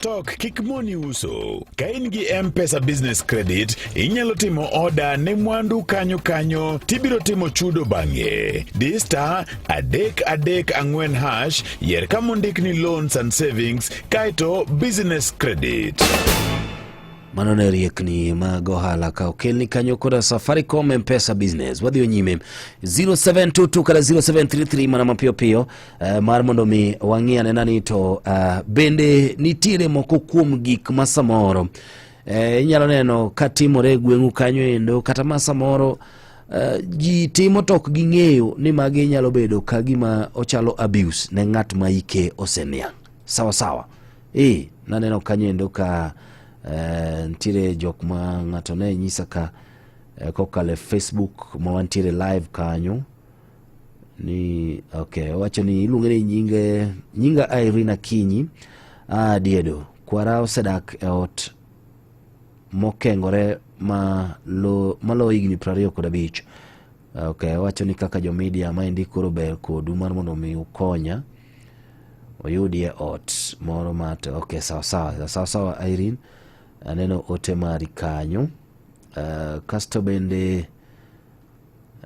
Tok kik moni uso. Ka in gi M-Pesa Business Credit, inyalo timo oda ne mwandu kanyo kanyo tibiro timo chudo bang'e. Di star adek adek ang'wen hash yer ka mondik ni loans and savings kaeto business credit. mano ne riekni mag ohala ka okelni kanyo koda safaricom mpesa business wadhi nyime 0722 kata 0733 mana mapiyo piyo Uh, mar mondo mi wang'i anena ni to uh, bende nitiere moko kuom gik ma samoro uh, inyalo neno ka timore e gweng'u kanyo endo kata ma samoro uh, ji timo tok ging'eyo ni magi nyalo bedo ka gima ochalo abuse ne ng'at ma ike oseniang' sawa sawa e naneno kanyo endo ka uh, nitiere jok ma ng'ato ne nyisa ka uh, kokalo e facebook ma wantiere live kanyo ni okay, wacho ni iluonge ni nyinge nyinga Irina Kinyi ah, diedo kwara osedak e ot mokengore ma lo ma lo higni prariyo kod abich okay, wacho ni kaka jo media maendi koro ber kodu mar mondo mi ukonya oyudie ot moro mat okay, sawa sawa sawa sawa Irene aneno ote mari kanyo uh, kasto bende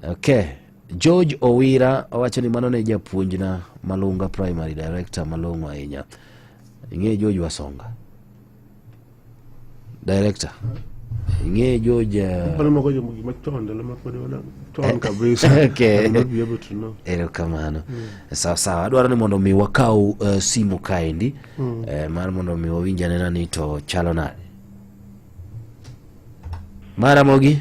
Okay. George Owira owacho ni mano ne japuonjna Malunga Primary Director malong'o ahinya. Ing'e George Wasonga? Director. Ing'e George uh... Pale moko jomo gima chon ndalo ma pod wana chon kabisa. okay. Not be able to know. Ero kamano. Mm. Sawa sawa. Adwaro ni mondo mi wakau uh, eh, simu kaendi. Mm. Eh, mar mondo mi wawinja nena ni to chalo nade. Mara mogi.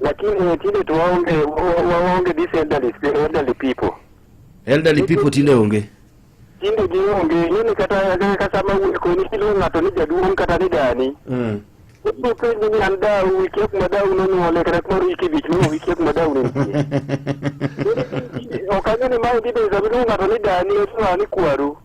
lakini tinde to waonge wa- waonge this elderly, elderly people Elderly people tinde onge. tinde gionge nini kata kata sama wuok koni kiluongo ng'ato ni jaduong' kata ni dani Mm. ibiro penji ni an dau wikia kuma dau nonyuole kata kuma wiki ibich no wikia kuma dau ne nitie ok ang'e ni mae dhi bedo sama iluongo ng'ato ni dani to ni kwaru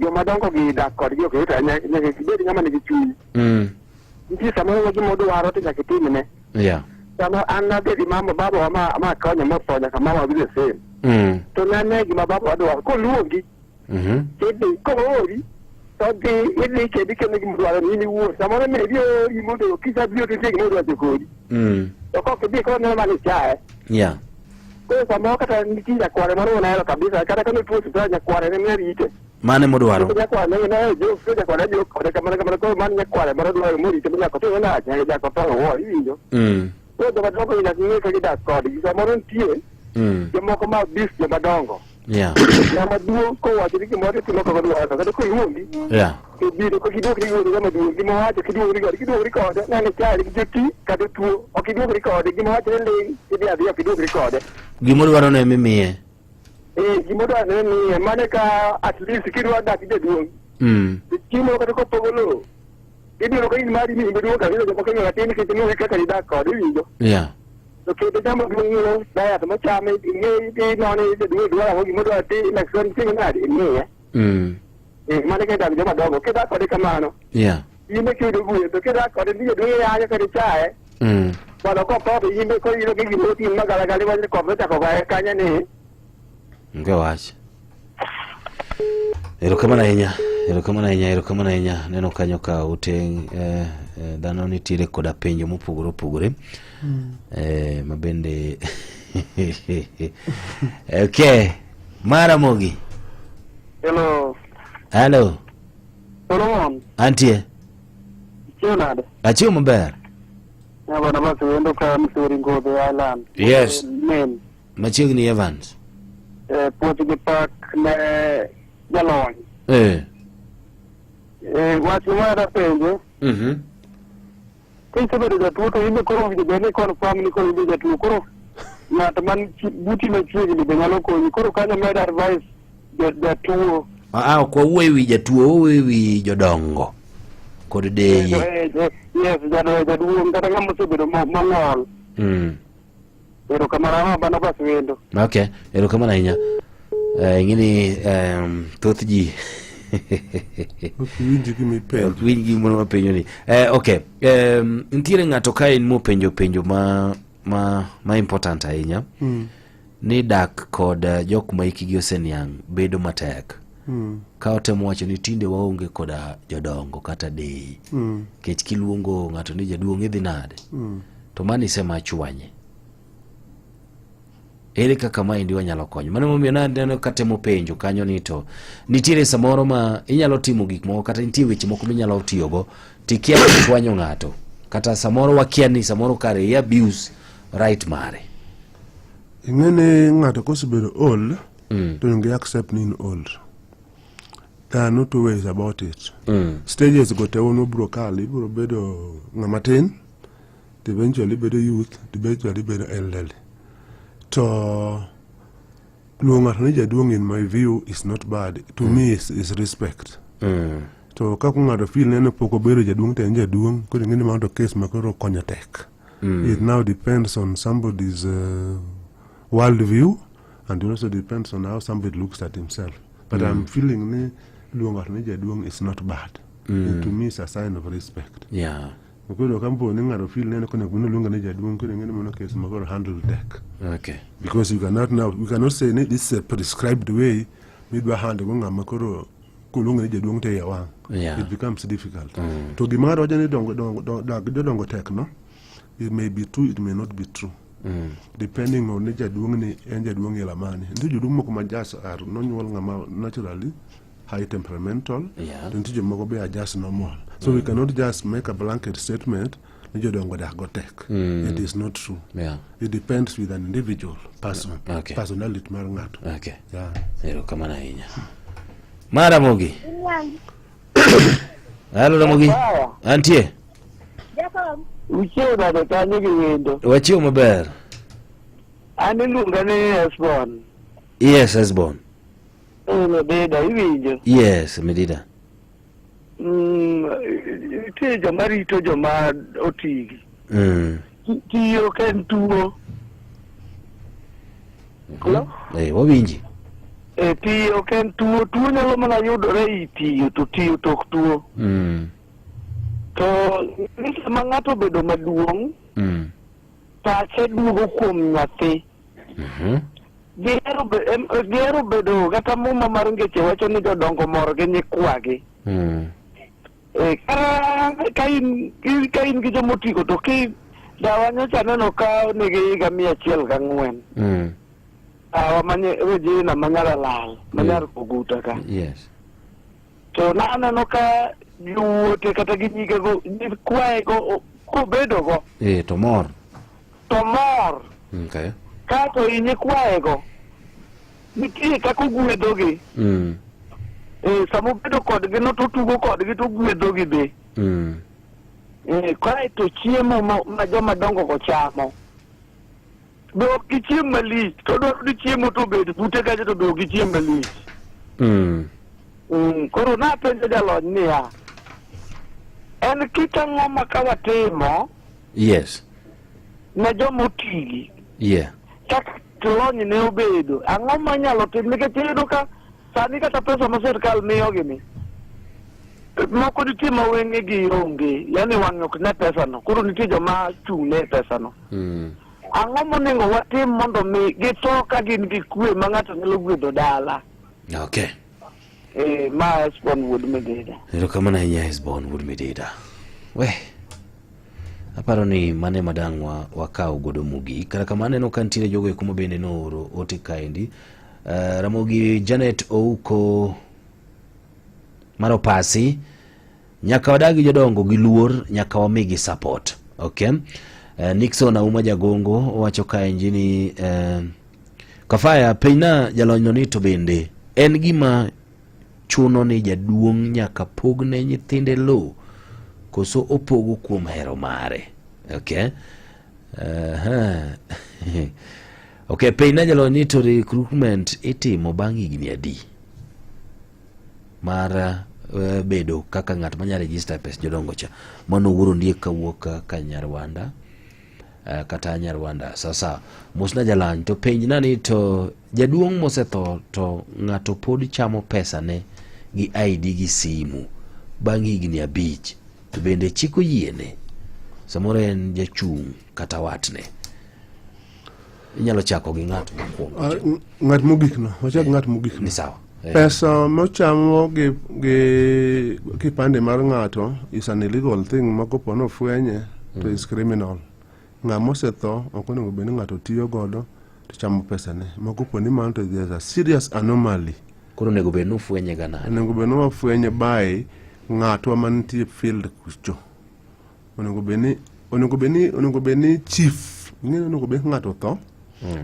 joma dongo gi dak kodgi ok yot ahinya nyaka gibed ng'ama nigi chuny Mm. nitie samoro wa gima odwaro to nyaka itimne Yeah. sama an nadhi gi mama babawa ma ma konya motho nyaka mama bile same Mm. to nane gima babawa dwaro koluongi Mhm. idhi koori to dhi idhi kendo ikendo gima dwaro ni in iwuon samoro ne bi ori mondo kisa bi otitie gima odwacho kodi Mm. to kok idhi koro neno mana ichaye Yeah. Koro samoro kata nitie nyakware moro onahero kabisa kata kane tuo sipitala nyakware ne mia rite. mane modwaro Nyakware ne ne jo jo nyakware jo kode kamano kamano koro man nyakware moro dwaro morite mi nyako to na nyaka jako to wo iwinjo. Mm, Koro joma dongo nyaka ng'e ka gidak kodgi samoro nitie mm. jomoko ma bis joma dongo. Yeah. ng'ama duong' kowachoni gimoro to itimo kaka odwaro to kata koluongi Yeah. to biro kok iduokri gi wuon ng'ama duong' gima owacho kiduokri kode kiduokri kode nene chali gi joti kata tuo ok iduokri kode gima owacho ni ling' idhi adhiya ok iduokri kode Gima odwaro ne mimiye. ee gima odwaro ne miye mane ka at least kidwa dak gi jaduong' Mm. to chiemo kata kopogo lowo ibiro ka in mari ni iduong' kabisa jomoko ing'eyo atin nikech ing'eyo kaka idak kode iwinjo Yeah. to ke da dama dun yiro da ya tama cha me ne de no ne de dua dua ho gi mo da ti election ti na de ne ya Mm. e ma ne ke da jama dogo ke da ko de kamano Yeah. yi me ke do bu to ke da ko de ni de ya ya ke de cha e Mm. ba lo ko ko de yi me ko yi lo ke gi mo ti ma ga ga le wa ko me ta ko ga ka nya ne Onge wach. Erokamano ahinya, erokamano ahinya, erokamano ahinya. Neno kanyo ka ute eh, eh, dhano nitiere koda penjo mopogore opogore. Eh, ma bende Okay. Mara Mogi. Hello, Hello. Solomon, Antie. chiwo nade? Achiwo maber. Nyabana basi wendo ka Missouri Ngobe Island. Yes. Maine. Machiegni Evans. Eh, puoth gi pak ne jalony. Eh. Eh, wach ma dapenje. Mhm. Kisebedo jatuo to inbe koro owinjo bed ni confirm ni koro inbe jatuo koro ng'at man chi- buti machiegni be nyalo konyi koro kanyo med advice ja- jatuo. Ah, ah, ok wawuoyo e wi jatuo, wawuoyo e wi jodongo kod Eh, deye. eh, eh, Yes, jado- jaduong' kata ng'ama osebedo mo- mong'ol. Mm. Erokamano ahinya Barnabas wendo. Okay, erokamano ahinya. Eh, ing'eni em, thoth ji Ok winji gima ipenjo. ok winj gimoro mapenjo ni eh, ok em, nitiere ng'ato ka en mopenjo penjo ma, ma, ma important ahinya ni dak kod eh, jok ma hikgi oseniang' bedo matek mm. ka otemo wacho ni tinde waonge koda jodongo kata dei mm. kech kiluongo ng'ato ni jaduong' idhi nade mm. to mano isema chwanye ere kaka maendi wanyalo konyo mano momiyo naneno katemo penjo kanyo ni to nitiere samoro ma inyalo timo gik moko kata nitie weche moko minyalo tiyogo tikia chwanyo ng'ato kata samoro wakia ni samoro kare i abuse right mare ing'e ni ng'ato kosebedo old mm. to onge accept ni in old there are no two ways about it mm. stages go te wono bro kali bro bedo ng'ama tin to eventually bedo youth to eventually bedo elderly to luongo ng'ato ni jaduong' in my view is not bad to mm. me is, is respect mm. to ka ku ng'ato feel neno pok obedo jaduong' to en jaduong' koro ing'e ni mano to case ma koro konyo tek mm. it now depends on somebody's uh, world view And it also depends on how somebody looks at himself. But mm. I'm feeling ni luongo ng'ato ni jaduong' is not bad. Mm. To me it's a sign of respect. Yeah. Ukwedo kampo ni ng'ato feel neno kone kuno luongo ni jaduong' kwedo ng'ene mono case magoro handle deck. Okay. Because you cannot now, you cannot say ni this is a prescribed way midwa handle go ng'ama koro kuluongo ni jaduong' to iye wang'. Yeah. It becomes difficult. Mm. To gima ng'ato wacho ni dongo dongo dongo dongo tek no. it may be true it may not be true mm. depending on ni jaduong' ni en jaduong' ila mane nitie joduong' moko ma jas ar nonyuol ng'ama naturally high temperamental yeah. to nitie jomoko be ajas normal so mm. we cannot just make a blanket statement ni jodongo dak go tek mm. it is not true yeah. it depends with an individual person okay. personality mar ng'ato okay. yeah. erokamano ahinya mara mogi halo ramogi antie Jakom. Uchiew nade kanyo gi wendo? Wachiew maber. An iluonga ni Esbon. Yes, Esbon. Eh, Medida, iwinjo? Yes, Medida. Mm, nitie joma rito joma otigi. Mm. Tiyo ka en tuo. Hello? Eh, wawinji. Eh, tiyo ka en tuo. Tuo nyalo mana yudore e i tiyo, to tiyo to ok tuo. Mm. To ni sama ng'ato obedo maduong', Mm. pache duogo kuom nyathi. Mhm. Gihero be- em- eh, gihero bedo kata muma mar ngeche wacho ni jodongo mor gi nyikwagi. Mm. Eh, kara ka in in- ka in gi joma otigo to ki dawa nyocha aneno ka nigi higa mia achiel gang'wen Mm. dawa manye Regina manyar Alal manyar Koguta ka Yes. to naneno ka jowuote kata gi nyigego kwayego kobedogo eh, to mor to mor okay. kato inye kwayego nitie kaka ogwedhogi mm. eh, sama obedo kodgi no totugo kodgi to ogwedhogi be mm. eh, kaeto chiemo ma, ma joma dongogo chamo dok gi chiem malich to dwaro ni chiemo to obed bute kacha to dok gi chiem malich Mm. Mm, koro napenjo jalony niya en kit ang'o ma ka watimo Yes. ne joma otigi Yeah. kaka lony ne obedo ang'o ma inyalo tim nikech iyudo ka sani kata pesa ma sirkal miyogi ni moko nitie ma wengegi onge yani wang'e ok ne pesano koro nitie joma chung'ne e pesano Mm. Ang'o monego watim mondo mi githo ka gin gi kwe ma ng'ato nyalo gwedho dala? Okay. Eh, ma Hesbon wuod Mededa. Erokamano ahinya Hesbon wuod Mededa. We. Aparo ni mane madang' wa, wakaw godo mugi. Kata kamano aneno ka nitiere jogo eko ma bende nooro ote kaendi. Uh, Ramogi Janet Ouko Maropasi Nyaka wadagi jodongo gi luor, nyaka wamigi support. Okay. Uh, Nixon Auma Jagongo wacho ka enjini uh, eh, Kafaya Peina jalonyno ni to bende en gima chuno ni jaduong' nyaka pogne nyithinde low koso opogo kuom hero mare. Okay. Uh -huh. okay, Peina jalonyni to recruitment itimo bang' higni adi? mar uh, bedo kaka ng'at manya register pes jodongo cha mano wuoro ndiek kawuok ka, ka nyarwanda uh, kata nyarwanda sasa mosna jalany to penj nani to jaduong' mosetho to ng'ato pod chamo pesa ne gi id gi simu bang' higni abich to bende chiko yiene samoro en jachung' kata watne Inyalo chako gi ng'at mokwongo. Ah, n- ng'at mogik no wachak ng'at mogik Ni no sawa. Eh, pesa mochamo gi, gi kipande mar ng'ato is an illegal thing ma kopo nofwenye to is criminal ng'a mosetho ok onego bed ni ng'ato tiyo godo to chamo pesane ma kopo ni mano to there's a serious anomaly Koro onego bed ni ufwenye ga nade? onego bed ni wafwenye by ng'atwa mantie field kucho onego bed ni onego bed ni onego bed ni chief ing'e ni onego bed ni ng'ato otho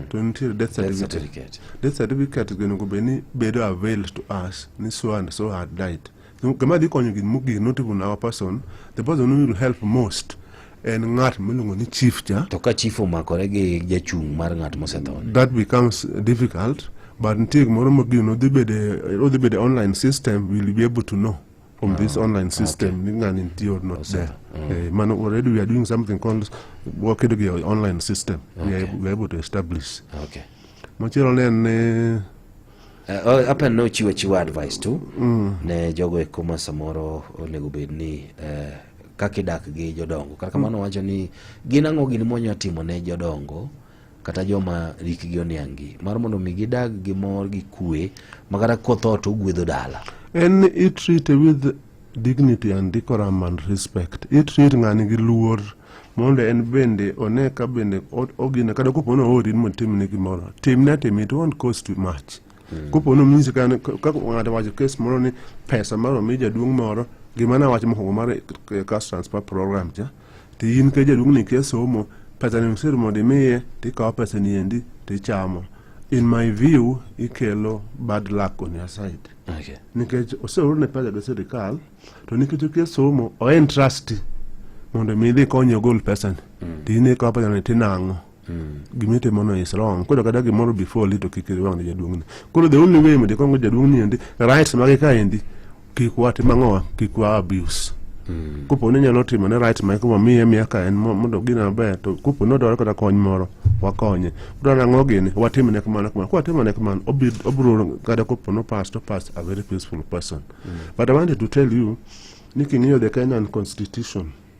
to nitiere death Death certificate certificate. death certificate go onego bed ni bedo avail to us ni so and so had died So, gima dhi konyo gin mogik not even our person the person who will help most en ng'at miluongo ni chief cha To ka chief omakore gi jachung' mar ng'at mosetho. that becomes difficult but nitie gimoro mogik no dhi bede odhi bede online system will be able to know from this ah, online system okay. ngani ntie or not there mm. eh, man already we are doing something called wakedo gi online system we are we are able to establish okay machielo ne en eh, eh, oh, hapa uh, nochiwo chiwa advice tu mm. ne jogo eko ma samoro onego bed ni uh, kaka idak gi jodongo kaka mm. mano wacho ni gin ang'o gini monyatimo ne jodongo kata joma rikgi oniang'gi mar mondo mi gidag gi mor gi kwe ma kata kotho to ogwedho dala en itreat with dignity and decorum and respect itreat ng'ani gi luor mondo en bende one ka bende ogina kata kopo ni oori ni mondo timne gimoro timne atim it won't cost too much hmm. kopo ni omisi kaka ng'ato wacho kes moro ni pesa mar omi jaduong' moro gima nawacho mokwongo mar eh, cash transfer program cha to in ka jaduong'ni kia somo pesani osir mondo imiye to ikawo pesani endi to ichamo in my view ikelo bad luck on your side okay. nikech oseorne pesa gi sirikal to nikech okia somo oen trusty mondo mi idhi konye ogol pesani mm. to in ikawo pesani tinang'o gima itimo no is wrong koro kata gimoro before li to kik iwang' ne jaduong'ni koro the only way mondo ikong' jaduong'ni endi rights mage ka endi kik watim ang'owa kik wa abuse mm. kopo ni nyalo timo ne rights mage wamiye miya ka en mo- mondo gine maber to kopo ni odwaro kata kony moro wakonye kudwaro ang'o gini watim ne kamano kamano kwatimo ne kamano obi- obiro kata kopo no pass to pass a very peaceful person but i wanted to tell you ni king'iyo the kenyan constitution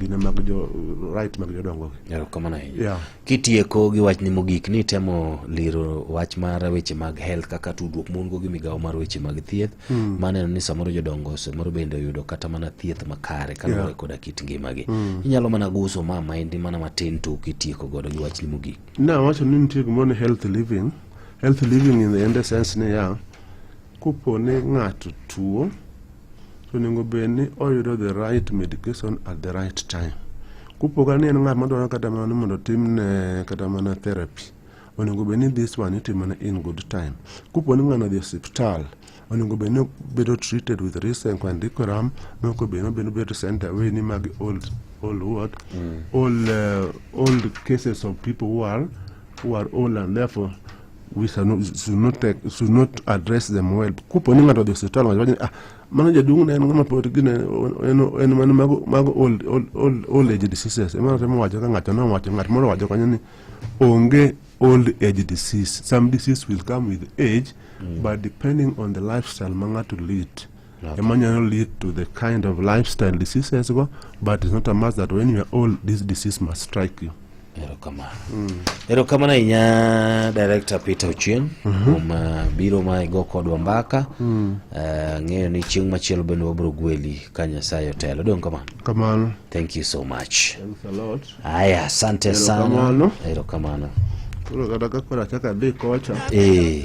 gine mag jo right mag jodongo erokamano ahinya yeah. kitieko gi wachni mogik ni temo liro wach mar weche mag health kaka tudruok mon go gi migawo mar weche mag thieth mm. maneno ni samoro jodongo samoro bende oyudo kata mana thieth makare kaluwore yeah. koda kit ngimagi mm. inyalo mana guso ma maendi mana matin to kitieko godo gi wachni mogik na wacho ni nitie gimoro ni health living health living in the end sense ni ya yeah. Kopo ni ng'ato tuo, to onego bed ni oyudo the right medication at the right time. Kopo ka ni en ng'at madwaro kata mana ni mondo otimne kata mana therapy, onego bed ni this one itimone in good time. Kopo ni ng'ano odhi e osiptal, onego bed ni obedo treated with risenk and decorum, maok obe ni obedo bedo sent away ni magi old, old what? Old, eh, old cases of people who are, who are old and therefore we shall not, should not take, should not address them well. Kupo ni ng'ato odhi hospital wacho ni ah mano jaduong' ne en ng'ama pod gine en en mano mago mago old old old, old age diseases. Emano temo wacho ka ng'ato no wacho ng'at moro wacho kanyo ni onge old age disease. Some disease will come with age mm. but depending on the lifestyle ma ng'ato lead. Okay. A man can lead to the kind of lifestyle disease as well, but it's not a must that when you are old, this disease must strike you. erokamano mm. erokamano ahinya director peter ochieng mhm. kuom mm -hmm. uh, biro ma igo kodwa mbaka mm. uh, ng'eyo ni chieng' machielo bende wabiro gweli ka nyasaye otelo dong kamano kamano thank you so much haya asante sana erokamano koro kata ka koro achaka dhi kocha eh.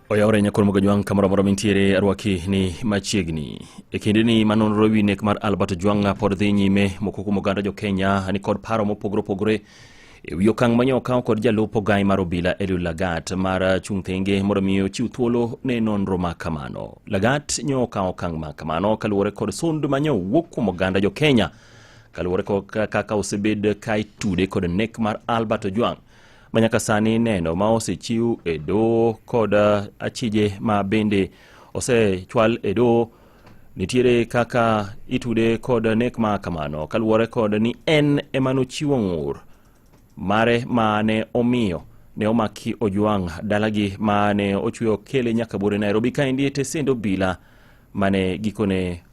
Oyawore nyakoro mogo jwang' kamoro amora mintiere arwaki ni machiegni. E kinde ni ma nonro wi nek mar Albert Jwang'a pod dhi nyime moko kuom oganda jo Kenya ni kod paro mopogore opogore e wi okang' manyo okaw kod jalup ogai mar obila Eliud Lagat mar chung' thenge mondo mi ochiw thuolo ne nonro ma kamano. Lagat nyo okaw okang' ma kamano kaluwore kod sund manyo wuok kuom oganda jo Kenya kaluwore kod kaka osebed ka itude kod nek mar Albert Ojwang' manyaka sani neno ma osechiw e doho kod eh, achije ma bende osechwal e doho nitiere kaka itude kod nek ma kamano kaluwore kod ni en ema nochiwo ng'ur mare ma ne omiyo ne omaki ojwang' dalagi ma ne ochwe okele nyaka bore nairobi kaendi e tesend obila ma ne gikone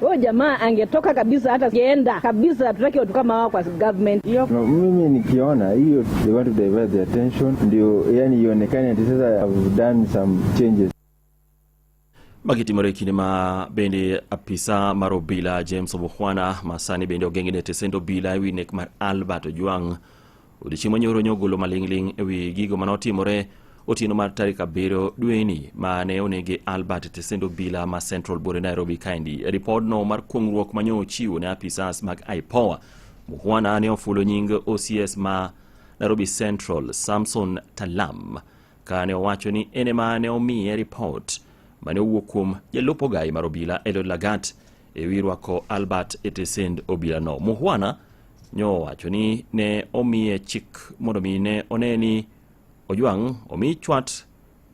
Huyo jamaa angetoka kabisa, hata geenda kabisa. Hatutaki watu kama hao kwa government hiyo. No, mimi nikiona hiyo, they want to divert the attention, ndio yani ionekane ati sasa have done some changes. Magiti marekini ma bende apisa mar obila James Obukhwana masani bende ogeng'ne tesendo obila Winek mar Albert Ojwang' Odiechieng' manyoro nyogolo maling'ling' e wi gigo mane otimore otieno mar tarik abiriyo dweni ma ne onege Albert Tesendo Bila ma Central Bore Nairobi kaendi. Ripodno mar kuong'ruok manyo ochiwo ne apisas mag IPOA. Muhwana ne ofulo nying OCS ma Nairobi Central Samson Talam ka ne owacho ni en ema ne omiye ripot mane owuok kuom jalup ogayi mar obila Eliud Lagat e wi rwako Albert Etesend obilano. Muhwana nyo wacho ni ne omiye chik mondo mi ne one ni Ojwang' omi chwat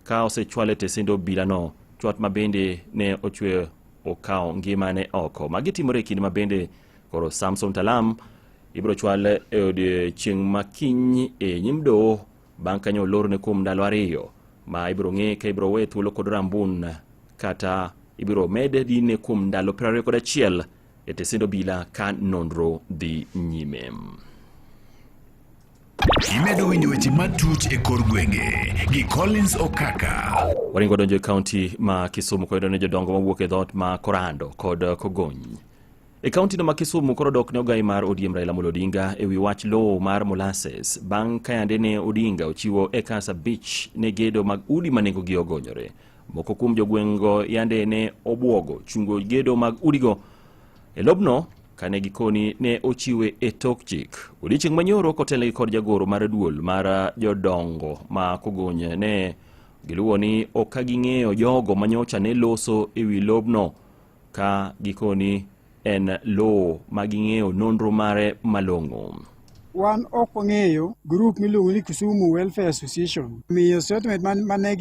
ka osechwale Etesend obilano, chwat ma bende ne ochwe okawo ngimane oko. Magi timore e kinde ma bende koro Samson Talam ibiro chwal e odiechieng' makiny e nyim doho Bang' kanyo olorne kuom ndalo ariyo ma ibiro ng'e ka ibiro we thuolo kod rambun kata ibiro med dine kuom ndalo 21 e tesend obila ka nonro dhi nyime. Imedo winjo weche matut e kor gwenge gi Collins Okaka. Waringo donjo e kaunti ma Kisumu koyudo ni jodongo mawuok e dhoot ma Korando kod Kogony E kauntino ma Kisumu koro dok ne ogai mar ODM Raila Amolo Odinga e wi wach lowo mar molasses bang' ka yande ne Odinga ochiwo ekas abich ne gedo mag udi ma nengogi ogonyore. Moko kuom jogweng'go yande ne obwogo chungo gedo mag udigo e lobno kane gikoni ne ochiwe e tok chik. Odiechieng' manyoro kotelnegi kod jagoro mar duol mar jodongo ma Kogony ne giluwo ni ok ka ging'eyo jogo manyocha ne loso e wi lobno ka gikoni en lowo ma ging'eyo nonro mare malong'o. Wan ok wang'eyo grup miluongo ni Kisumu Welfare Association. Miyo statement mane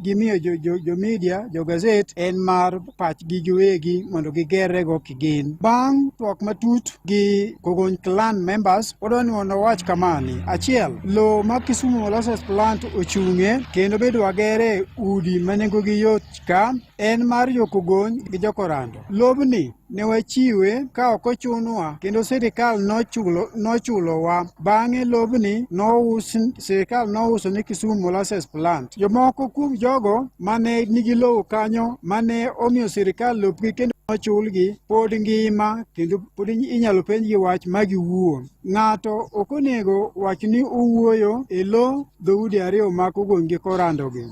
gimiyo jo media, jo gazet en mar pachgi giwegi mondo gigerrego kigin. Bang' twak matut gi Kogony clan members, wadwa ni mondo wawach kamani. Achiel, lowo ma Kisumu Molasses Plant ochung'e kendo bedo wagere udi ma nengogi yot ka en mar jokogony gi jokorando. Lobni ne wachiwe ka ok ochunwa kendo sirikal nochulo nochulowa. Bang'e lobni nous sirikal nouso ni Kisumu Molasses Plant. Jomoko kuom jogo mane nigi lowo kanyo mane omiyo sirikal lopgi kendo ochulgi pod ngima kendo pod inyalo penjgi wach ma giwuo. Ng'ato ok onego wach ni owuoyo e lo dhoudi ariyo mag ogony gi korandogi.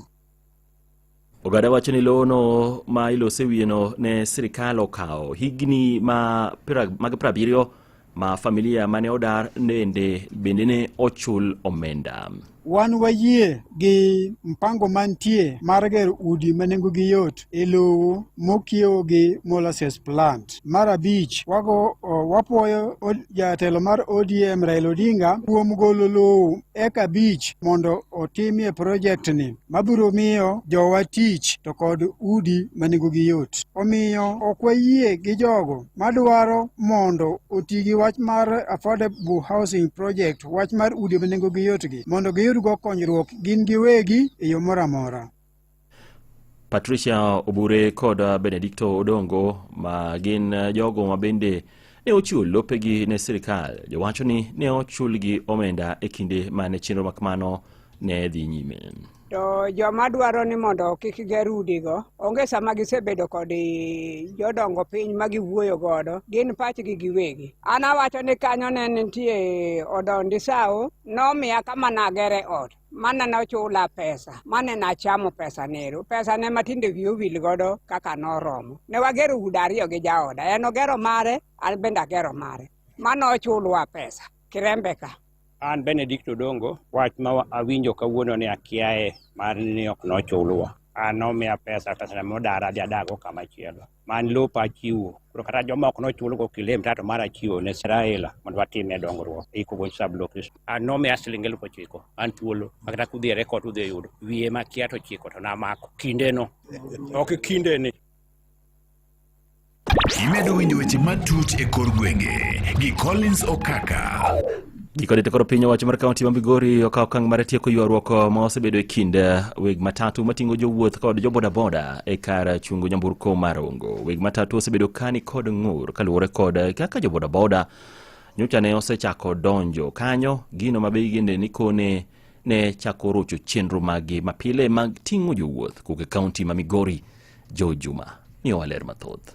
Ogada wacho ni lowono ma ilose wiyeno ne sirikal okawo higni mag prabiriyo ma familia mane odar nende bende ne ochul omenda. Wan wayie gi mpango mantie mar gero udi ma nengogi yot e lowo mokiewo gi molasses plant. Mar abich, wago wapwoyo jatelo mar ODM Raila Odinga kuom golo lowo eka abich mondo otimie projektni. mabiro miyo jowa tich to kod udi ma nengogi yot. Omiyo ok wayie gi jogo madwaro mondo oti gi wach mar Affordable Housing Project, wach mar udi ma nengogi yotgi, mondo giyudgo konyruok gin giwegi e yo moro amora. Patricia Obure kod Benedicto Odongo ma gin jogo ma bende ne ochiwo lopegi ne sirkal jowacho ni ne ochulgi omenda e kinde ma ne chenro makmano ne dhi nyime to joma dwaro ni mondo kik ger udigo onge sama gisebedo kod jodongo piny ma giwuoyo godo gin pachgi giwegi an awacho ni kanyo ne nitie odon disawo nomiya kama nagere ot mane ne ochula pesa mane nachamo pesa nero pesa ne matinde wiye owil godo kaka noromo ne wagero udi ariyo gi jaoda en ogero mare an bende agero mare mane ochulwa pesa kirembe ka an benedict odongo wach ma wa- awinjo kawuono ni akiaye mar ni ok nochulwa an nomiya pesa pesa ne modara adhi adago kamachielo man lopa achiwo koro kata jomoko nochulgo kilemta to mara achiwo ne seraela mondo watime dongruok ikogo sablok an nomiya siling elfu ochiko an thuolo makata kudhi e rekod udhi e yudo wiye makia to chiko to namako kindeno ok kindeni imedo winjo weche matut e kor gwenge gi collins okaka Gikone to koro piny owacho mar kaunti ma Migori okawo okang' mar tieko ywaruok ma osebedo e kind eh, weg matatu mating'o jowuoth kod jobodaboda e kar chungo nyamburko mar Ongo. Weg matatu osebedo kani kod ng'ur kaluwore kod eh, kaka jobodaboda nyocha ne osechako donjo kanyo gino ma be gende ni kone ne chako rocho chenro maggi mapile mag ting'o jowuoth kowuok e kaunti ma Migori Jo Juma miyo waler mathoth.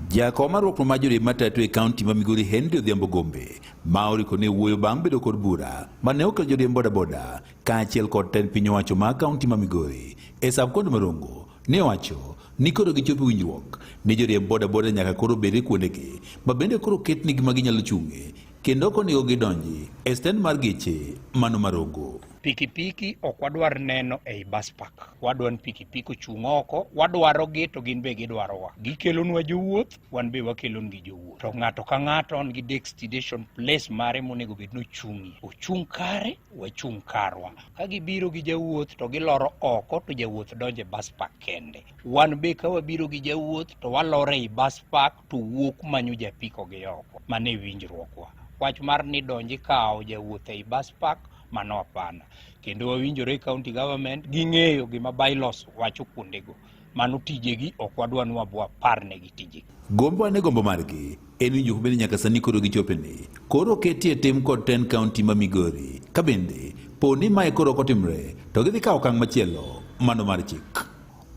Jakom mar rwakruok mar joriemb matatu e kaunti ma Migori Henry Odhiambo Gombe ma oriko ne wuoyo bang' bedo kod bura ma ne okelo joriemb bodaboda kaachiel kod tend piny owacho ma kaunti ma Migori e sabkond Marongo ne owacho ni koro gichopo winjruok ni joriemb bodaboda nyaka koro bed e kuondegi ma bende koro ketnigi ma ginyalo chung'e Kendo ok onego gidonji e stend mar geche mano Marongo. Pikipiki ok wadwar neno ei bus park. Wadwa ni pikipiki ochung' oko, wadwarogi to gin be gidwarowa. Gikelonwa jowuoth, wan be wakelongi jowuoth. To ng'ato ka ng'ato on gi destination place mare monego bed ni ochung'ie. Ochung' kare, wachung' karwa. Ka gibiro gi jawuoth to giloro oko to jawuoth donjo e bus park kende. Wan be ka wabiro gi jawuoth to waloro ei bus park to wuok manyo japiko gi oko mano e winjruokwa wach mar ni donji kawo jawuoth ei bus park mano apana kendo wawinjore county government ging'eyo gima bylaws wacho kuondego mano tijegi ok wadwa ni wabwa parnegi tijegi gombo ane gombo margi en winjo bende nyaka sani koro gichope ni koro ketie tim kod ten county ma migori ka bende po ni mae koro ok otimre to gidhi kawo okang' machielo mano mar chik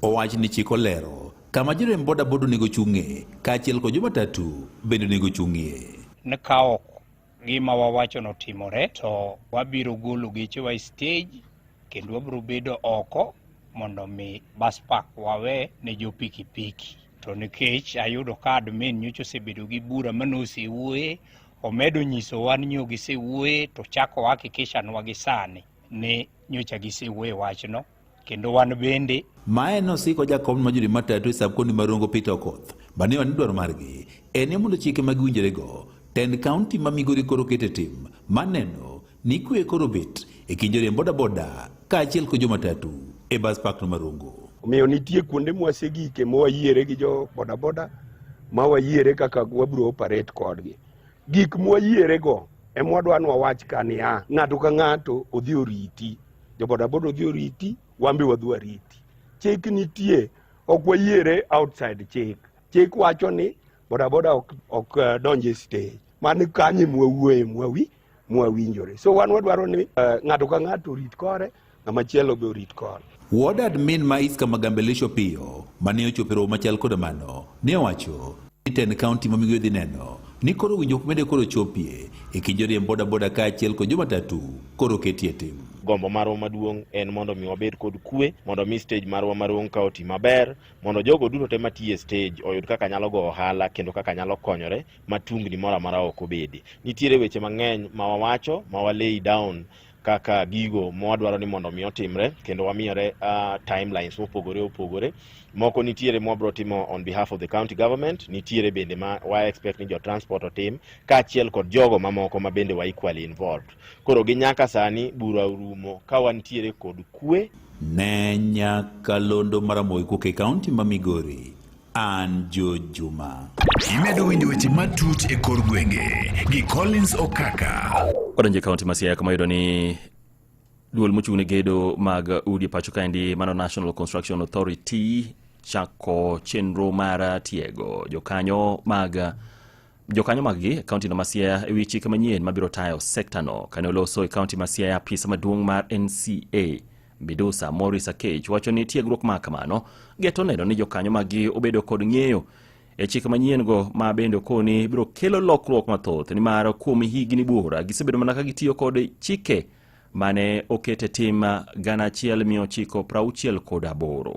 owach ni chik olero Kama joriemb bodaboda onego ochung'ie kaachiel kod jomatatu bende onego ochung'ie. Ni ka ok gima wawachono otimore to wabiro golo gechewa e stej kendo wabiro bedo oko mondo mi bus park wawe ne jo pikipiki. To nikech ayudo ka admin nyocha osebedo gi bura mane osewuoye, omedo nyisowa ni nyo gisewuoye to chako hakikishanwa gi sani ni nyocha gisewuoye wachno. kendo wan bende Mae nosiko jakom ma jodi matatu e sab kondi marongo Peter Okoth banewa ni dwaro margi en mondo chike ma giwinjore go tend kaunti ma Migori koro kete tim maneno ni kwe koro bet e kind joriemb bodaboda kaachiel kod jomatatu e bas park no Marongo. Omiyo nitie kuonde mwasegike mwayiere gi jo bodaboda ma wayiere kaka wabiro operate kodgi. Gik mwayierego emwadwa nwawach ka niya, ng'ato ka ng'ato odhi oriti jo bodaboda odhi oriti wan be wadhi wariti chik nitie ok wayiere outside chik chik wacho ni bodaboda ok, ok uh, donje stage mani kanye mwawuoye mwawi mwawinjore so wan wadwaro ni uh, ng'ato ka ng'ato orit kore ng'ama chielo be orit kore Ward admin ma Iska Magambelisho Piyo mane ochopo e romo machal koda mano ne owacho Ten kaunti ma migoyo dhi neno ni koro winjruok mede koro chopie e kind joriemb bodaboda kaachiel kod jomatatu koro ketie tim. Gombo marwa maduong' en mondo mi wabed kod kwe, mondo mi stage marwa maduong' ka oti maber, mondo jogo duto te matiyo e stage oyud kaka nyalo go ohala kendo kaka nyalo konyore ma tungni moro amora ok obedi. Nitiere weche mang'eny ma wawacho ma walay down kaka gigo mwadwaro ni mondo mi otimre kendo wamiyore uh, timelines mopogore opogore moko nitiere mwabro timo on behalf of the county government nitiere bende ma wa expect ni jo transport otim kaachiel kod jogo mamoko ma bende wa equally involved koro gi nyaka sani bura orumo ka wantiere kod kwe ne nyakalondo maramoy kuke kaunti ma migori An Jo Juma. Imedo winjo weche matut e kor gwenge gi Collins Okaka. Odonje kaunti ma Siaya kama yudo ni duol mochung' ne gedo mag udi e pacho kaendi mano National Construction Authority chako chenro mar tiego jokanyo mag jokanyo maggi e kaontino ma Siaya e wi chike manyien mabiro tayo sektano. Kane oloso e kaonti ma Siaya, apisa maduong' mar NCA Midusa Morris Akech wacho ni tiegruok ma kamano geto neno ni jokanyo maggi obedo kod ng'eyo e chike manyien-go ma bende okoni biro kelo lokruok mathoth nimar kuom higni buora gisebedo mana ka gitiyo kod chike mane okete tim gana achiel mia ochiko prauchiel kod aboro.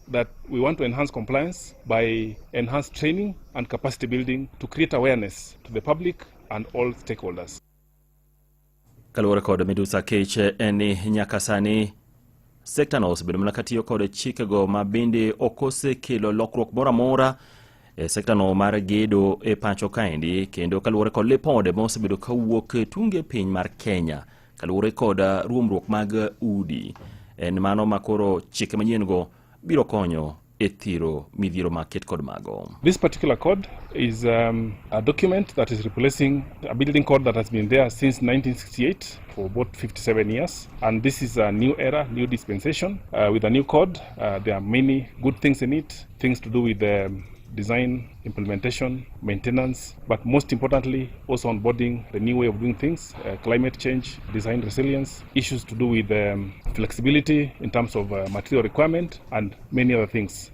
that we want to enhance compliance by enhanced training and capacity building to create awareness to the public and all stakeholders. Kaluwore kod midusa kech en ni nyaka sani sektano osebedo mana katiyo kod chikego ma bende ok osekelo lokruok moro amora e sektano mar gedo e pacho kaendi kendo kaluwore kod lipode ma osebedo kawuok tunge piny mar Kenya Kaluwore kod uh, ruomruok mag uh, udi, en mano ma koro chike manyien go biro konyo e thiro midhiero ma ket kod mago. This particular code is um, a document that is replacing a building code that has been there since 1968 for about 57 years and this is a new era, new dispensation uh, with a new code. Uh, there are many good things in it, things to do with the um, design implementation, maintenance, but most importantly, also onboarding the new way of doing things, uh, climate change, design resilience, issues to do with um, flexibility in terms of uh, material requirement, and many other things.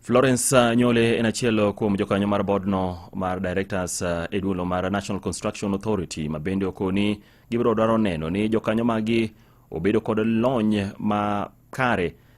Florence uh, Nyole en achiel kuom jokanyo mar bodno mar directors uh, e duolo mar National Construction Authority ma bende okoni gibiro dwaro neno ni jokanyo magi obedo kod lony ma kare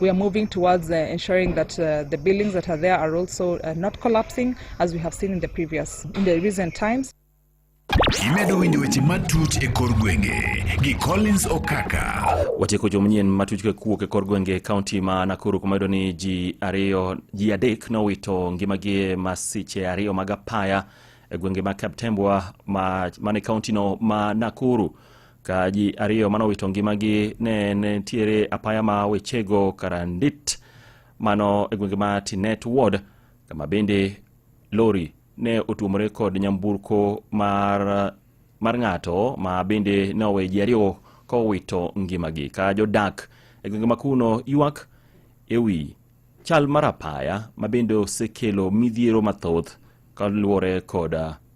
We are moving towards uh, ensuring that uh, the buildings that are there are also uh, not collapsing as we have seen in the previous in the recent times. Imedo winjo weche matut e kor gwenge gi Collins Okaka. Watieko jo manyien matut ka kuok e kor gwenge e kaunti ma Nakuru kuma yudo ni ji ariyo ji adek nowito ngimagi e masiche ariyo mag apaya e gwenge ma Kaptembwa ma, ma e kaunti no ma Nakuru. ka ji ariyo mane owito ngimagi ne nitiere apaya ma wechego karandit mano e gwenge ma tinet ward kama bende lori ne otuomore kod nyamburko mar, mar ng'ato ma bende ne owe ji ariyo ka owito ngimagi ka jodak e gwenge ma kuno ywak e wi chal mar apaya ma bende osekelo midhiero mathoth kaluwore kod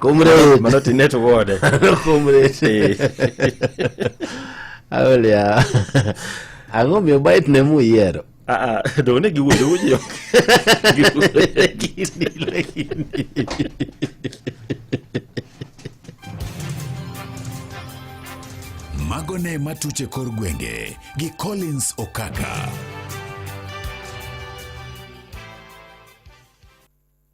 Comrade. Mano to inet wode. Comrade. Aulia. Ang'o miyo bait ne mu yiero? Ah, ah, dong ne giwuoyo wuoyo ok. Giwuoyo gini lakini. Mago ne matuche kor gwenge gi Collins Okaka.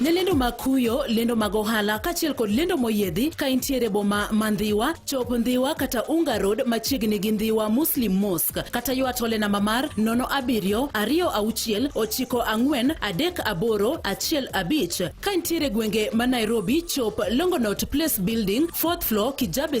ne lendo mag kuyo lendo mag ohala kaachiel kod lendo moyiedhi ka intiere boma ma ndhiwa chop ndhiwa kata unga road machiegni gi ndhiwa muslim mosque kata ywa tole namba mar nono abiriyo ariyo auchiel ochiko ang'wen adek aboro achiel abich ka intiere gwenge ma nairobi chop longonot place building fourth floor kijabe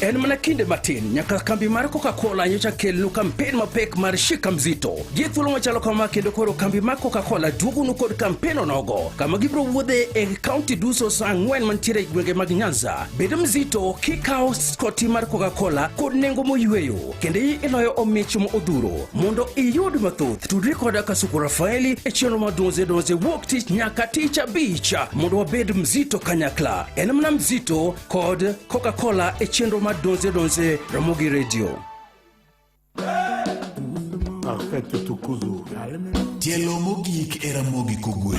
En mana kinde matin nyaka kambi mar Coca-Cola nyocha kelnu kampen mapek mar Shika Mzito. Gi thuolo machalo kama kendo koro kambi mar Coca-Cola duogonu kod kampen onogo kama gibiro wuodhe e kaunti duso sa ang'wen mantiere e gwenge mag Nyanza. Bedo mzito kikawo skoti mar Coca-Cola kod nengo moyweyo. kendo iloyo omich ma odhuro mondo iyud mathoth tudri koda kasuku rafaeli e chenro ma donze donze wuok tich nyaka tich abich mondo wabed mzito kanyakla en mana mzito kod coca-cola e chenro ma donze donze ramogi redio Perfetto tu cuso. Tielo mogik era mogi kogwen.